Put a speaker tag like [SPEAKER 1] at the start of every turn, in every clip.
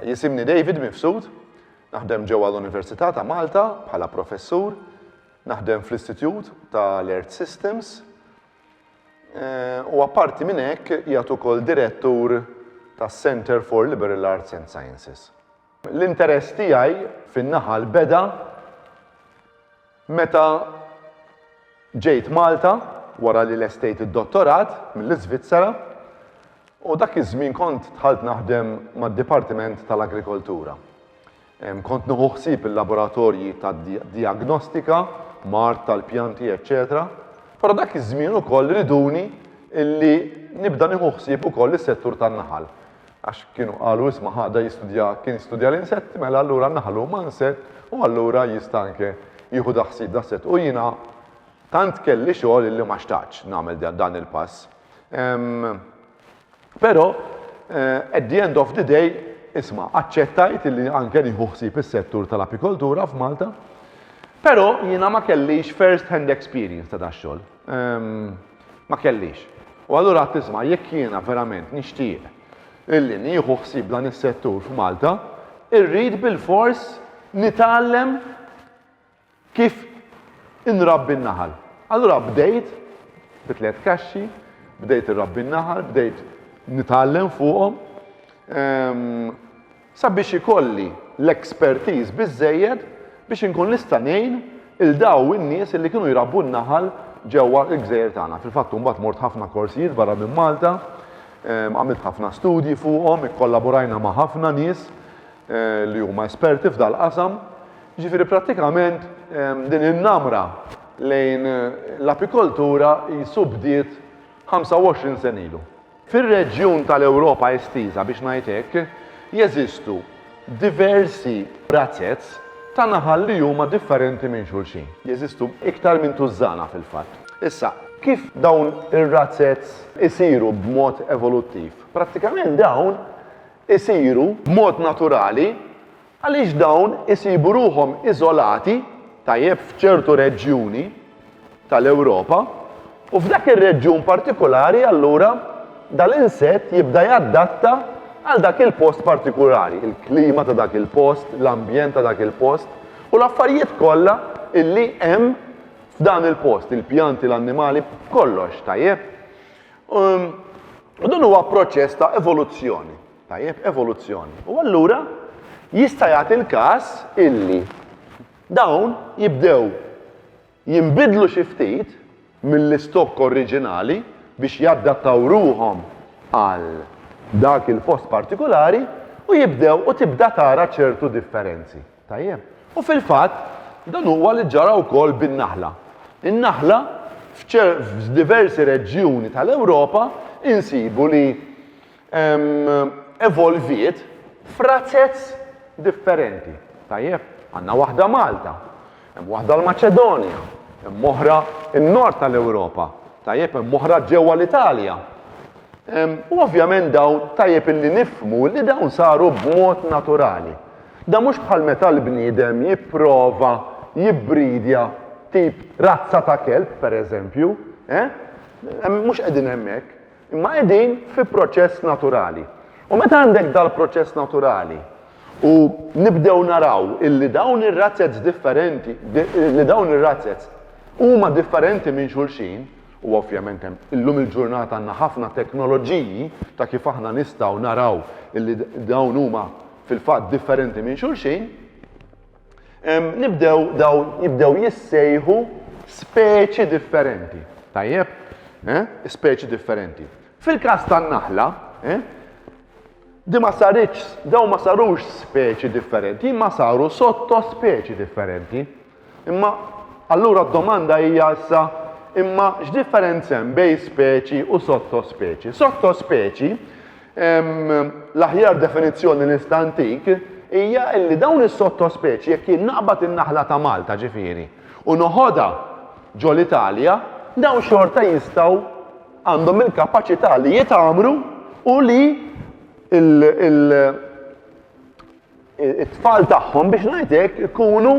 [SPEAKER 1] Jisimni David Mifsud, naħdem ġewwa l-Università ta' Malta bħala professur, naħdem fl-Istitut tal-Earth Systems, eh, u apparti minn hekk jagħtu wkoll direttur tas-Center for Liberal Arts and Sciences. L-interess tiegħi fin-naħal beda meta ġejt Malta wara li lestejt id-dottorat mill-Iżvizzera u dak iż-żmien kont dħalt naħdem mad-Dipartiment tal-Agrikoltura. Kont nieħu ħsieb il-laboratorji tad-dijagnostika, mard tal-pjanti, eċċetera. Però dak iż-żmien ukoll riduni illi nibda nieħu ħsieb ukoll is-settur tan-naħal. Għax kienu qalu isma' ħa da jistudja kien studja l-insetti mela allura n-naħal huma insett u allura jista' anke jieħu da ħsieb da sett u jiena tant kelli xogħol illi ma xtaqtx nagħmel dan il-pass. Però at the end of the day isma' aċċettajt illi anke nieħu ħsieb is-settur tal-apikoltura f'Malta, però jiena ma kellix first hand experience ta' da xogħol. Ma kellix. U allura għad tisma' jekk jiena verament nixtieq illi nieħu ħsieb dan is-settur f'Malta, irrid bilfors nitgħallem kif inrabbi n-naħal. Allura bdejt bi tliet kaxxi, bdejt irrabbi n-naħal, bdejt nitgħallem fuqhom. sabiex ikolli l-expertise biżżejjed biex inkun nista' ngħin lil dawn in-nies li kienu jrabbu n-naħal ġewwa l-gżejjer tagħna. Fil-fatt u mbagħad mort ħafna korsijiet barra minn Malta, għamilt ħafna studji fuqhom, ikkollaborajna ma' ħafna nies li huma esperti f'dal-qasam. Jiġifieri prattikament din in-namra lejn l-apikoltura qisu bdiet 25 sena ilu. Fir-reġjun tal-Ewropa estiża, biex ngħid hekk, jeżistu diversi razzez ta' naħal li huma differenti minn xulxin. Jeżistu iktar minn tużżana fil-fatt. Issa, kif dawn ir-razzez isiru b'mod evoluttiv? Prattikament dawn isiru b'mod naturali Għaliex dawn isibu ruħhom iżolati tajjeb f'ċertu reġjuni tal-Ewropa u f'dak ir-reġjun partikulari allura dal-insett jibda jaddatta għal dak il-post partikulari, il-klima ta' dak il-post, l-ambjent ta' dak il-post u l-affarijiet kollha illi hemm f'dan il-post, il-pjanti, l-annimali, kollox, tajjeb? U dan huwa proċess ta' evoluzzjoni, Tajjeb, evoluzzjoni. U allura jista' jagħti l-każ illi dawn jibdew jinbidlu xi ftit mill-istokk oriġinali biex jaddattaw ruħhom għal dak il-post partikulari u jibdew u tibda tara ċertu differenzi. Tajjeb? U fil-fatt dan huwa li ġara wkoll bin-naħla. In-naħla f'diversi reġjuni tal-Ewropa insibu li evolviet f'razez differenti. Tajjeb, għandna waħda Malta, hemm waħda l-Maċedonja, hemm oħra n-nord tal-Ewropa, tajjeb hemm oħra ġewwa l-Italja. U ovvjament dawn tajjeb illi nifmu li dawn saru b'mod naturali. Da mhux bħal meta l-bniedem jipprova jibbridja tip razza ta' kelb, per eżempju, eh? Mhux qegħdin hemmhekk. Imma qegħdin fi proċess naturali. U meta għandek dal-proċess naturali u nibdew naraw illi dawn ir-razzets differenti, li dawn ir-razzets huma differenti minn xulxin, u ovvjament hemm illum il-ġurnata għandna ħafna teknoloġiji ta' kif aħna nistgħu naraw illi dawn huma fil-fatt differenti minn xulxin, Nibdew dawn jibdew jissejħu speċi differenti. Tajjeb? Eh? Speċi differenti. Fil-każ tan-naħla, eh? Di ma saritx, daw ma sarux speċi differenti, ma saru sotto speċi differenti. Imma allura d-domanda hija issa imma x'differenza hemm bej speċi u sotto speċi? Sotto speċi L-aħjar definizzjoni nista' ntik hija li dawn is-sottospeċi jekk jien naqbad in-naħla ta' Malta ġifieri u noħodha ġol Italja, dawn xorta jistgħu għandhom il-kapaċità li jitgħammru u li t-tfal tagħhom biex ngħid hekk ikunu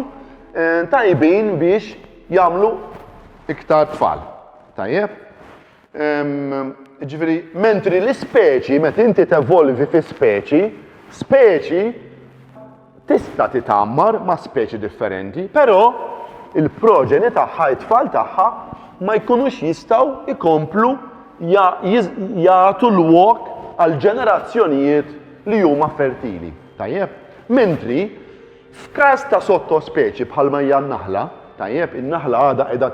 [SPEAKER 1] tajbin biex jagħmlu iktar tfal. Tajjeb? Ġifieri, mentri l-ispeċi, meta inti tevolvi fi speċi, speċi tista' titammar ma' speċi differenti, però il-proġeni tagħha, it-tfal tagħha, ma jkunux jistgħu ikomplu jagħtu l-wok għal ġenerazzjonijiet li huma fertili. Tajjeb? Mentri, f'każ ta' sottospeċi bħalma hija n-naħla, tajjeb, in-naħla għadha qiegħda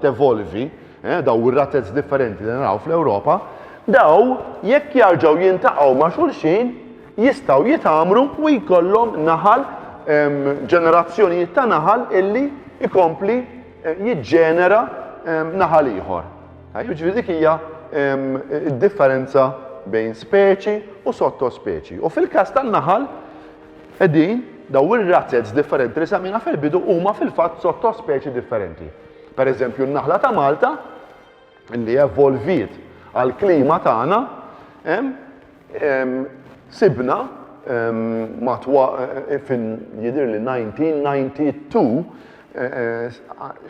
[SPEAKER 1] tevolvi, eh, daw ir-ratez differenti li naraw fl-Ewropa, daw jekk jarġaw jintaqgħu ma' xulxin jistgħu jitamru u jkollhom naħal ġenerazzjonijiet ta' naħal illi ikompli eh, jiġġenera naħal ieħor. Ġifieri dik hija differenza bejn speċi u sottospeċi. U fil-każ tan-naħal qegħdin daw ir-razzets differenti li samina fil-bidu huma fil-fatt sottospeċi differenti. Per eżempju, n-naħla ta' Malta li evolviet għal-klima tagħna sibna matwa eh, fin jidir li 1992 eh,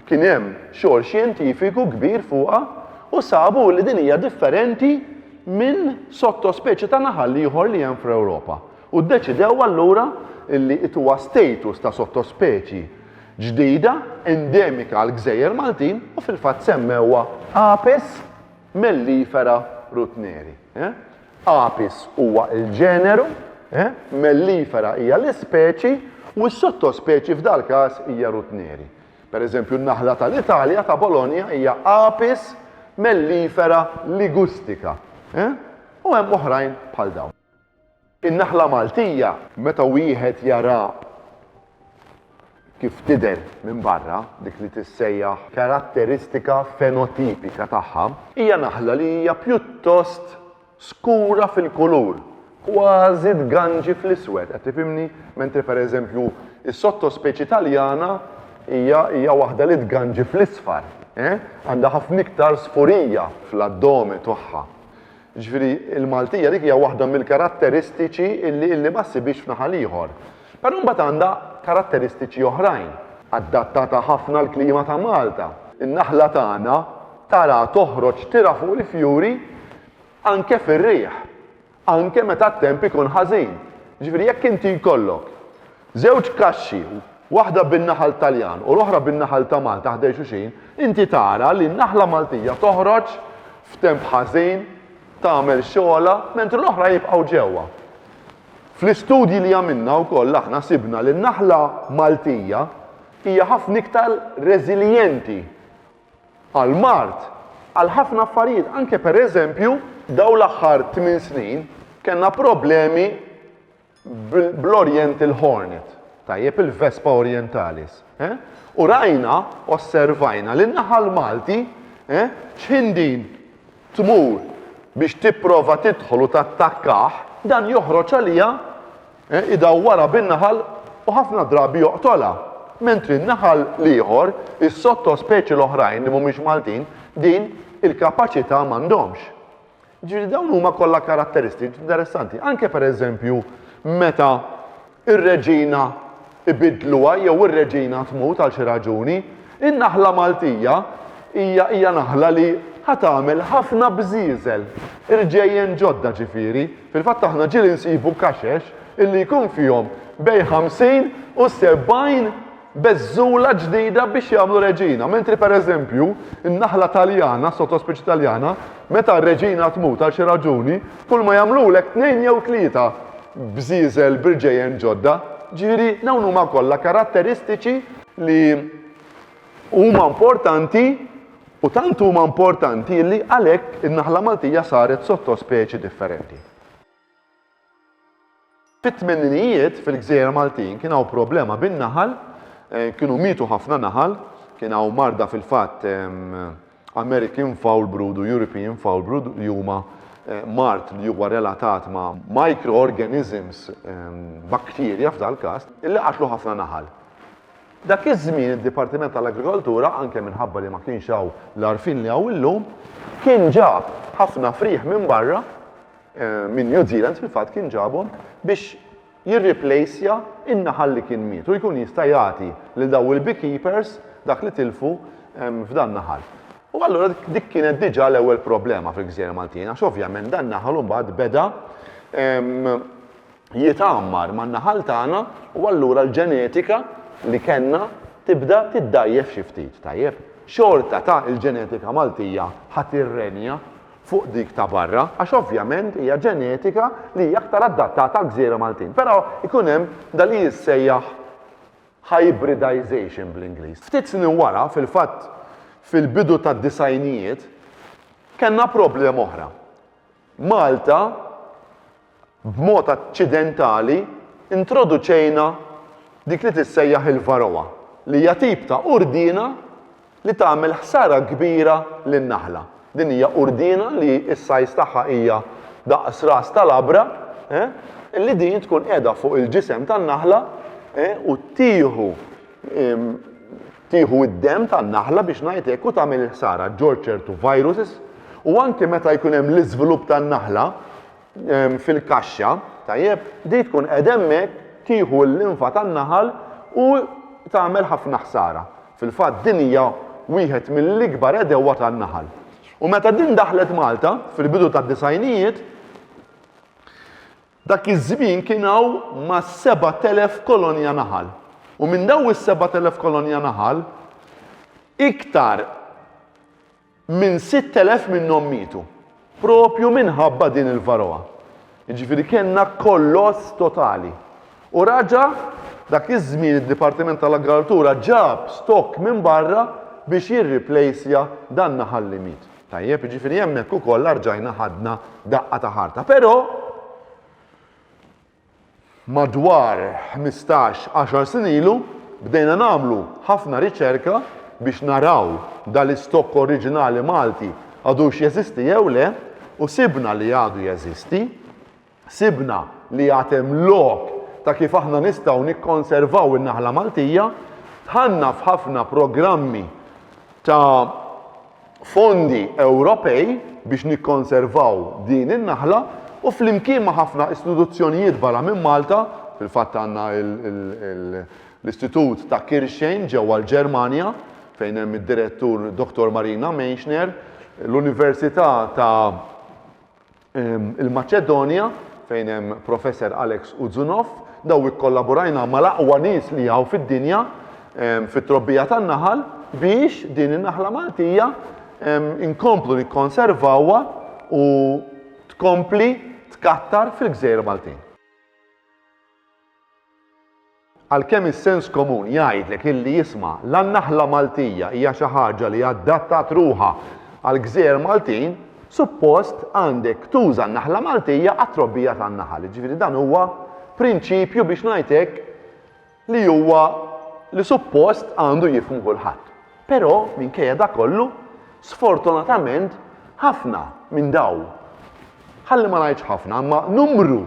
[SPEAKER 1] kien hemm xogħol xjentifiku kbir fuqha u sabu li din hija differenti minn sottospeċi ta' naħal ieħor li hemm fl-Ewropa. U ddeċidew allura li ituwa status ta' sottospeċi ġdida endemika għall-gżejjer Maltin u fil-fatt semmewha Apis mellifera rutneri. Apis huwa l-ġeneru, mellifera hija l-ispeċi u s-sottospeċi f'dal-każ hija rutneri. Per eżempju n-naħla tal-Italja ta' Bologna hija Apis mellifera ligustica u hemm oħrajn bħal dawn. In-naħla Maltija. Meta wieħed jaraha kif tidher minn barra, dik li tissejjaħ karatteristika fenotipika tagħha, hija naħla li hija pjuttost skura fil-kulur, kważi tganġi fl-iswed, qed tifhimni? Mentri per eżempju s-sottospeċi Taljana hija hija waħda li tganġi fl-isfar, eh? Għandha ħafna iktar sfurija fl-addome tagħha. Jiġifieri, il-Maltija dik hija waħda mill-karatteristiċi li illi ma ssibhiex f'naħal ieħor. Però mbagħad għandha karatteristiċi oħrajn. Adattata ħafna għall-klima ta' Malta. In-naħla tagħna taraha toħroġ tira fuq il-fjuri anke fir-riħ, anke meta t-temp ikun ħażin. Jiġifieri jekk inti jkollok Żewġ kaxxi, waħda bin-naħal Taljan u l-oħra bin-naħal ta' Malta ħdej xulxin, inti tara li n-naħla Maltija toħroġ f'temp ħażin, tagħmel xogħolha, mentri l-oħra jibqgħu ġewwa. Fl-istudji li għamilna wkoll aħna sibna li n-naħla Maltija hija ħafna iktar reżiljenti għall-mard, għal ħafna affarijiet, anke pereżempju dawn l-aħħar tmien snin kellna problemi bl-oriental hornet, tajjeb, il-Vespa orientalis, eh? U rajna, osservajna li n-naħal Malti, eh? X'ħin din tmur biex tipprova tidħol u tattakkah, dan joħroġ għaliha, eh? idawwarha bin-naħal u ħafna drabi joqtolha. Mentri n-naħal l-ieħor, is-sottospeċi l-oħrajn li mhumiex Maltin, din il-kapaċità m'għandhomx. Ġifieri dawn huma kollha karatteristiċi interessanti, anke pereżempju meta ir-reġina ibidluha jew ir-reġina tmut għal xi raġuni, in-naħla Maltija hija hija naħla li ħa tagħmel ħafna bżieżel, irġejjen ġodda ġifieri. Fil-fatt aħna ġieli nsibu kaxex illi jkun fihom bejn 50 u 70 beżżula ġdida biex jagħmlu reġina, mentri pereżempju, in-naħla Taljana, sottospeċi Taljana, meta r-reġina tmut għal xi raġuni, kulma jagħmlulek tnejn jew tlieta bżieżel b'irġejjen ġodda. Ġifieri, dawn huma kollha karatteristiċi li huma importanti u tant huma importanti li għalhekk in-naħla Maltija saret sottospeċi differenti. Fit-tmeninijiet fil-gżejjer Maltin kien hawn problema bin-naħal, kienu mietu ħafna naħal, kien hawn marda fil-fatt American Foul Brood u European Foul Brood li huma mard li huwa relatat ma' microorganisms, bakterja f'dal-każ, li qatlu ħafna naħal. Dak iż-żmien id-Dipartiment tal-Agrikoltura, anke minħabba li ma kienx hawn l-għarfien li hawn illum, kien ġab ħafna frieħ minn barra, minn New Zealand fil-fatt kien ġabhom biex jirriplejsja n-naħal li kien miet u jkun jista' jagħti lil dawn il-beekeepers dak li tilfu f'dan naħal. U allura dik kienet diġà l-ewwel problema fil-Gżejjer Maltin għax ovvjament dan naħal imbagħad beda jitgħammar man-naħal tagħna u allura l-ġenetika li kellna tibda tiddgħajjef xi ftit, tajjeb? Xorta ta' il-ġenetika Maltija ħa tirrenja fuq dik ta' barra, għax ovvjament hija ġenetika li hija aktar adattata għall-gżejjer Maltin. Però jkun hemm dak li jissejjaħ hybridization bl-Ingliż. Ftit snin wara, fil-fatt fil-bidu tad-disgħinijiet, kellna problema oħra. Malta b'mod aċċidentali introduċejna dik li tissejjaħ il-varroa, li hija tip ta' qurdiena li tagħmel ħsara kbira lin-naħla. Din hija qurdiena li s-size tagħha hija daqs ras ta' labra, li din tkun qiegħda fuq il-ġisem tan-naħla u tieħu tieħu d-demm tan-naħla biex ngħid hekk u tagħmel il-ħsara. Ġorġ ċertu viruses u anke meta jkun hemm l-iżvilupp tan-naħla, fil-kaxxa, tajjeb, di tkun qed hemmhekk tieħu l-linfa tan-naħal u tagħmel ħafna ħsara. Fil-fatt din hija wieħed mill-ikbar għedewwa tan-naħal. U meta din daħlet Malta fil-bidu tad-disajnijiet, dak iż-żmien kien hawn ma' 7000 kolonja naħal. U minn daw is-7000 kolonja naħal, iktar Minn 6,000 minnhom mietu proprju minħabba din il-varroa. Jiġifieri kellna kolloss totali. U raġa' dak iż-żmien id-Dipartiment tal-Agraltura ġab stokk minn barra biex jirriplejsja dan naħal li miet. Tajjeb, jiġifieri hemmhekk ukoll rġajna ħadna daqqa ta' ħarta. Però, Madwar ħmistax, għaxar snin ilu bdejna nagħmlu ħafna riċerka biex naraw dal-istokk oriġinali Malti għadux jeżisti jew le u sibna li għadu jeżisti. Sibna li għad hemm lok ta' kif aħna nistgħu nikkonservaw in-naħla Maltija. Dħalna f'ħafna programmi ta' fondi Ewropej biex nikkonservaw din in-naħla u flimkien ma' ħafna istituzzjonijiet barra minn Malta, fil-fatt għandna l-Istitut ta' Kirchheim ġewwa l-Ġermanja fejn hemm id-Direttur Dottor Marina Meischner, l-Università ta' ehm, il-Maċedonja fejn hemm Professor Alex Uzunov, daw ikkollaborajna mal-aqwa nies li hawn fid-dinja ehm, fit-trobbija tan-naħal biex din in-naħla Maltija ehm, inkomplu nikkonservawha u tkompli tkattar fil-gżejjer Maltin. Għalkemm is-sens komun jgħidlek illi isma' la n-naħla Maltija hija xi ħaġa li adattat ruħha għall-gżejjer Maltin, suppost għandek tuża n-naħla Maltija għat-trobbija tan-naħal. Jiġifieri dan huwa prinċipju biex ngħid hekk li huwa li suppost għandu jifhmu kulħadd. Però minkejja dak kollu, sfortunatament ħafna minn dawn, ħalli ma ngħidx ħafna, imma numru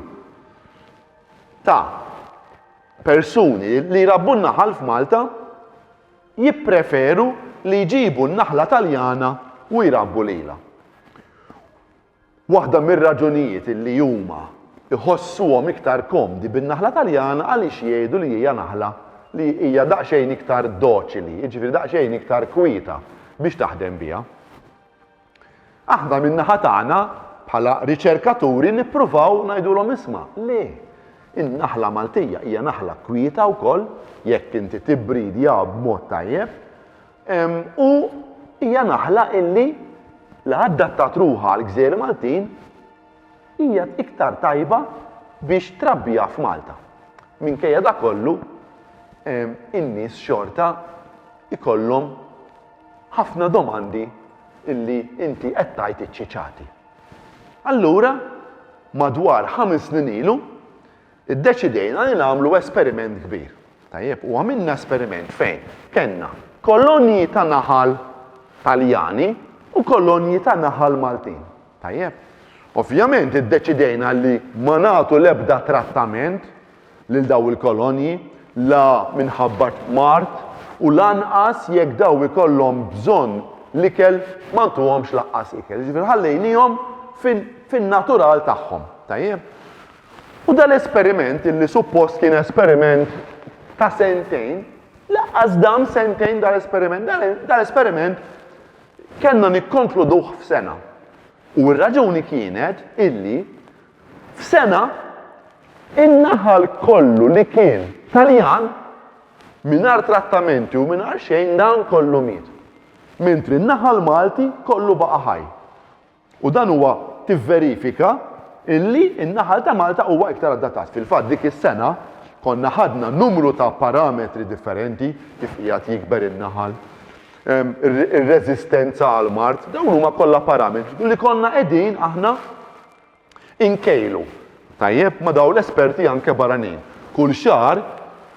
[SPEAKER 1] ta' persuni li jrabbu n-naħal f'Malta jippreferu li jġibu n-naħla Taljana u jrabbu lilha. Waħda mir-raġunijiet li huma jħossuhom iktar komdi bin-naħla Taljana għaliex jgħidu li hija naħla li hija daqsxejn iktar doċili, jiġifieri daqsxejn iktar kwieta biex taħdem biha. Aħna min-naħa tagħna, bħala riċerkaturi nippruvaw ngħidulhom isma', le, in-naħla Maltija hija naħla kwieta wkoll jekk inti tibbridja b'mod tajjeb u hija naħla illi li adattat ruħha għall-gżejjer Maltin hija iktar tajba biex trabbiha f'Malta. Minkejja da kollu, in-nies xorta ikollhom Ħafna domandi illi inti qed tgħid iċċiċati. Allura, madwar ħames snin ilu, iddeċidejna li nagħmlu esperiment kbir. Tajjeb, u għamilna esperiment fejn kellna kolonji ta' naħal Taljani u kolonji ta' naħal Maltin. Tajjeb. Ovvjament iddeċidejna li ma nagħtu l-ebda trattament lil dawn il-kolonji, la minħabba t-tmard u lanqas jekk dawn ikollhom bżonn l-ikel ma ntuhomx lanqas ikel. Jiġifieri ħallejnihom fin-natural tagħhom. Tajjeb? U dan l-esperiment illi suppost kien esperiment ta' sentejn, lanqas dam sentejn dan l-esperiment, dan l-esperiment kellna nikkonkluduh f'sena. U r-raġuni kienet illi F'sena, in-naħal kollu li kien Taljan, mingħajr trattamenti u mingħajr xejn dan kollu miet. Mentri n-naħal Malti kollu baqa' ħaj. U dan huwa tivverifika illi n-naħal ta' Malta huwa iktar adattat. Fil-fatt dik is-sena konna ħadna numru ta' parametri differenti kif qiegħed jikber in-naħal, ir-reżistenza għall-mard, dawn huma kollha parametri li konna qegħdin aħna Inkejlu tajjeb ma' dawn l-esperti anke barranin. Kull xahar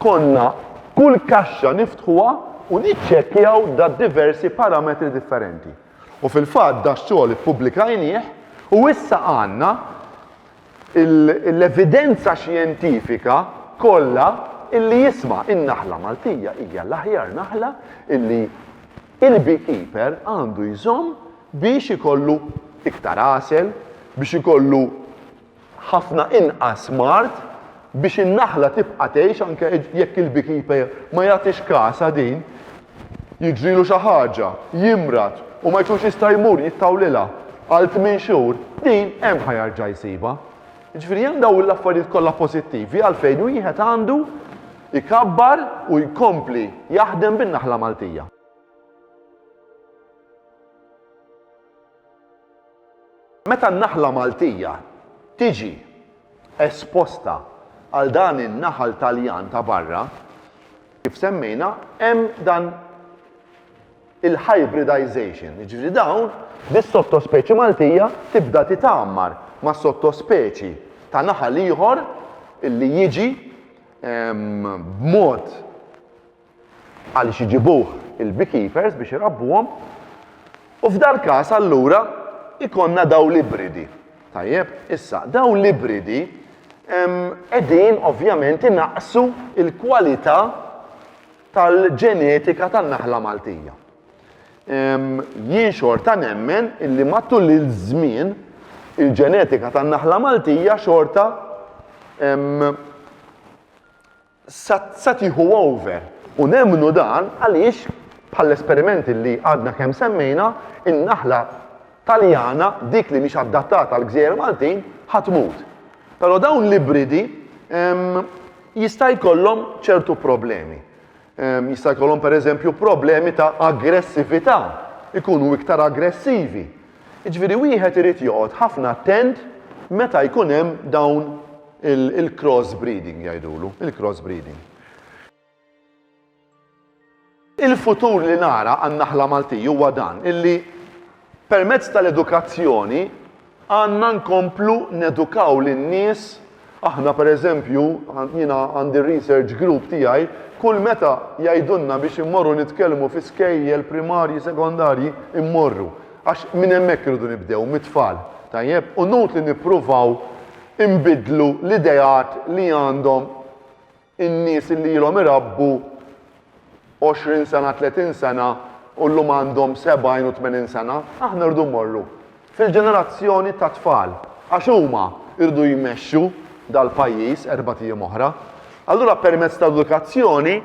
[SPEAKER 1] konna kull kaxxa niftħuha u niċċekkjaw da' diversi parametri differenti. U fil-fatt dax-xogħol ippubblikajnieh u issa għandna l-evidenza xjentifika kollha illi jisma' in-naħla Maltija hija l-aħjar naħla illi il-beekeeper għandu jżomm biex ikollu iktar għasel, biex ikollu ħafna inqas mard, biex in-naħla tibqa' tgħix anke jekk il-beekeeper ma jagħtix kasha din, jiġrilu xi ħaġa, jimrad u ma jkunx jista' jmur jittawlilha għal tmien xhur, din hemm ħa jerġa' jsibha. Jiġifieri hemm dawn l-affarijiet kollha pożittivi għalfejn wieħed għandu Ikabbar u jkompli jaħdem bin-naħla Maltija. Meta n-naħla Maltija tiġi esposta għal dan in-naħal Taljan ta' barra, kif semmejna, hemm dan il-hybridization, jiġifieri dawn bis-sottospeċi Maltija tibda titgħammar ma' sottospeċi ta' naħal ieħor illi jiġi b'mod għaliex iġibuh il-beekeepers biex irabbuhom u f'dal-każ allura ikonna daw l-ibridi. Tajjeb, issa, daw l-ibridi edin ovvjament inaqsu il-kwalità tal-ġenetika tan-naħla Maltija. Jien xorta nemmen illi matul iż-żmien il-ġenetika tan-naħla Maltija xorta sa tieħu over. U nemmnu dan għaliex bħall-esperimenti li għadna kemm semmejna, in-naħla Taljana, dik li mhix adattata għall-gżejjer Maltin, ħa tmut. Però dawn l-ibridi jista' jkollhom ċertu problemi. Jista' jkollhom pereżempju problemi ta' aggressività, ikunu iktar aggressivi. Jiġifieri wieħed irid joqgħod ħafna attent meta jkun hemm dawn il-cross breeding jgħidulu, il-cross breeding. Il-futur li nara għan-naħla Maltija huwa dan, illi Permezz tal-edukazzjoni għandna nkomplu nedukaw lin-nies, aħna pereżempju, jiena għandi r-research group tiegħi, kull meta jgħidulna biex immorru nitkellmu fi skejjel primarji, sekondarji, immorru. Għax minn hemmhekk irridu nibdew, mit-tfal. Tajjeb? U nutli nippruvaw inbiddlu l-ideat li għandhom In-nies illi ilhom irabbu għoxrin sena, tletin sena u llum għandhom sebgħin u tmenin sena, aħna rridu mmorru fil-ġenerazzjoni tat-tfal għax huma jridu jmexxu dal-pajjiż erbat ijiem oħra. Allura permezz tal-edukazzjoni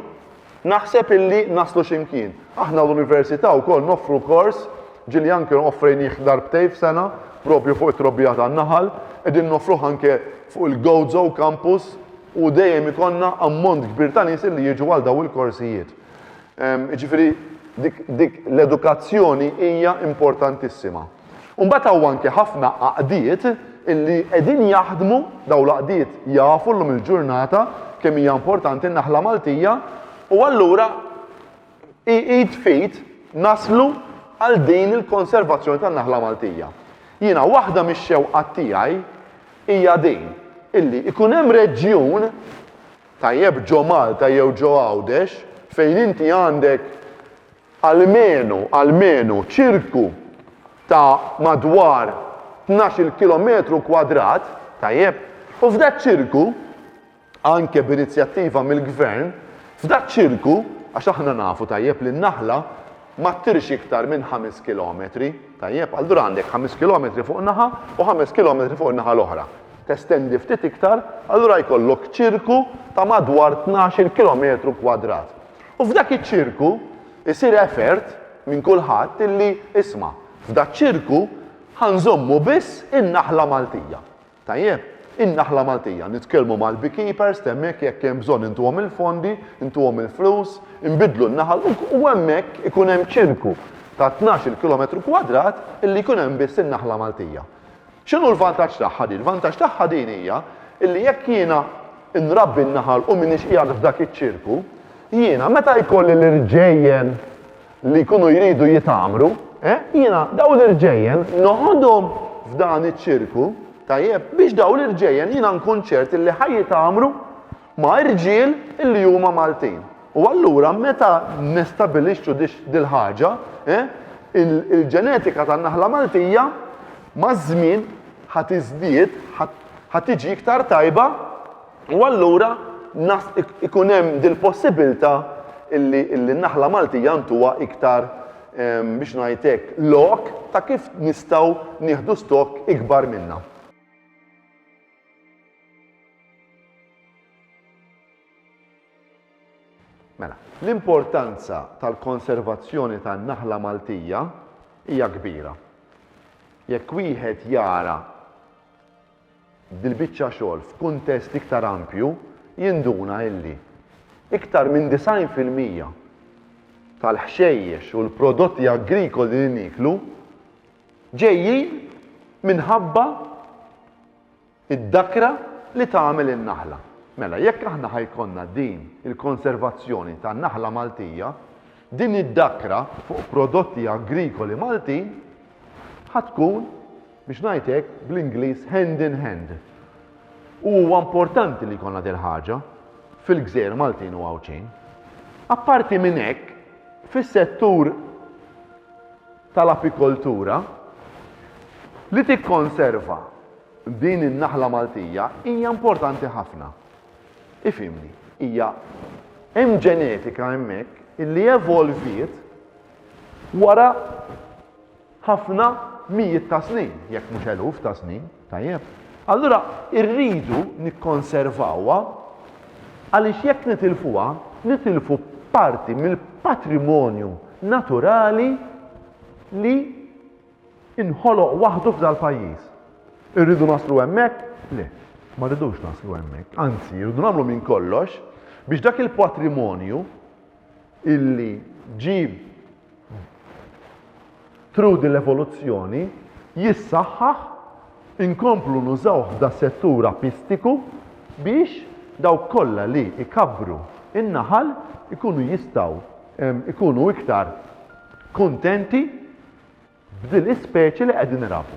[SPEAKER 1] naħseb illi naslu xi mkien. Aħna l-Università wkoll noffru kors ġieli anke offrejnieh darbtejn f'sena propju fuq it-trobbija tan-naħal, qegħdin noffruh anke fuq il-Gozo Campus, u dejjem ikollna ammont kbir ta' nies li jiġu għal dawn il-korsijiet. Jiġifieri dik l-edukazzjoni hija importantissima. U mbagħad hawn anke ħafna għaqdiet illi qegħdin jaħdmu dawn l-għaqdiet jafu llum il-ġurnata kemm hija importanti n-naħla Maltija u allura id f'id naslu għal din il-konservazzjoni tan-naħla Maltija. Jiena waħda mix-xewqat tiegħi hija din illi ikun hemm reġjun tajjeb ġo Malta jew ġo Għawdex fejn inti għandek almenu almenu ċirku ta' madwar 12 kilometru kwadrat tajjeb u f'dak ċirku anke b'inizjattiva mill-Gvern, f'dak ċirku, għax aħna nafu tajjeb li n-naħla ma ttirx iktar minn ħames kilometri, tajjeb, allura għandek ħames kilometri fuq naħa u ħames kilometri fuq in-naħa l-oħra. Testendi ftit iktar, allura jkollok ċirku ta' madwar tnax-il kilometru kwadrat. U f'dak iċ-ċirku jsir effort minn kulħadd illi, isma', f'dak ċirku ħa nżommu biss in-naħla Maltija. Tajjeb, in-naħla Maltija, nitkellmu mal-beekeepers t'hemmhekk jekk hemm bżonn intuhom il-fondi, intuhom il-flus, inbiddlu n-naħal u hemmhekk ikun hemm ċirku ta' tnax-il kilometru kwadrat illi jkun hemm biss in-naħla Maltija. X'inhu l-vantaġġ tagħha din? L-vantaġġ tagħha din hija illi jekk jiena nrabbi n-naħal u m'iniex qiegħed f'dak iċ-ċirku, jiena meta jkolli l-irġejjen li jkunu jridu jitgħammru, eh, jiena dawn l-irġejjen noħodhom f'dan iċ-ċirku, tajjeb, biex dawn l-irġejjen jiena nkun ċert li ħaj jitgħammru ma' irġiel li huma Maltin. U allura meta nestabilixxu dil-ħaġa, eh, il-ġenetika tan-naħla Maltija maż-żmien ħad iżdied, ħad tiġi iktar tajba U allura nas ikun hemm dil-possibilità illi n-naħla Maltija ntuha iktar ehm, biex ngħid hekk lok ta' kif nistgħu nieħdu stokk ikbar minnha. Mela, l-importanza tal-konservazzjoni tan-naħla Maltija hija kbira. Jekk wieħed jara dil-biċċa xogħol f'kuntest iktar ampju, jinduna illi iktar minn 90 fil-mija tal-ħxejjex u l-prodotti agrikoli li nieklu ġejjin minħabba d-dakra li tagħmel in-naħla. Mela, jekk aħna ħa jkollna din il-konservazzjoni tan-naħla Maltija, din id-dakra fuq prodotti agrikoli Maltin ħa tkun Biex ngħid hekk, bl-Ingliż hand in hand. U huwa importanti li jkollna dil-ħaġa fil-gżejjer Maltin u Għawdxin. Apparti minn hekk, fis-settur tal-apikoltura, li tikkonserva din in-naħla Maltija hija importanti ħafna. Ifhimni, hija hemm ġenetika hemmhekk illi evolviet wara ħafna mijiet ta' snin, jekk mhux eluf ta' snin, tajjeb? Allura rridu nikkonservawha għaliex jekk nitilfuha, nitilfu parti mill-patrimonju naturali li inħoloq waħdu f'dal-pajjiż. Irridu naslu hemmhekk? Le, ma rridux naslu hemmhekk. Anzi, irridu nagħmlu minn kollox biex dak il-patrimonju illi ġie through din l-evoluzzjoni jissaħħaħ inkomplu nużawh f'da settur apistiku biex dawk kollha li jkabbru n-naħal ikunu jistgħu jkunu iktar kuntenti b'din l-ispeċi li qegħdin irabbu.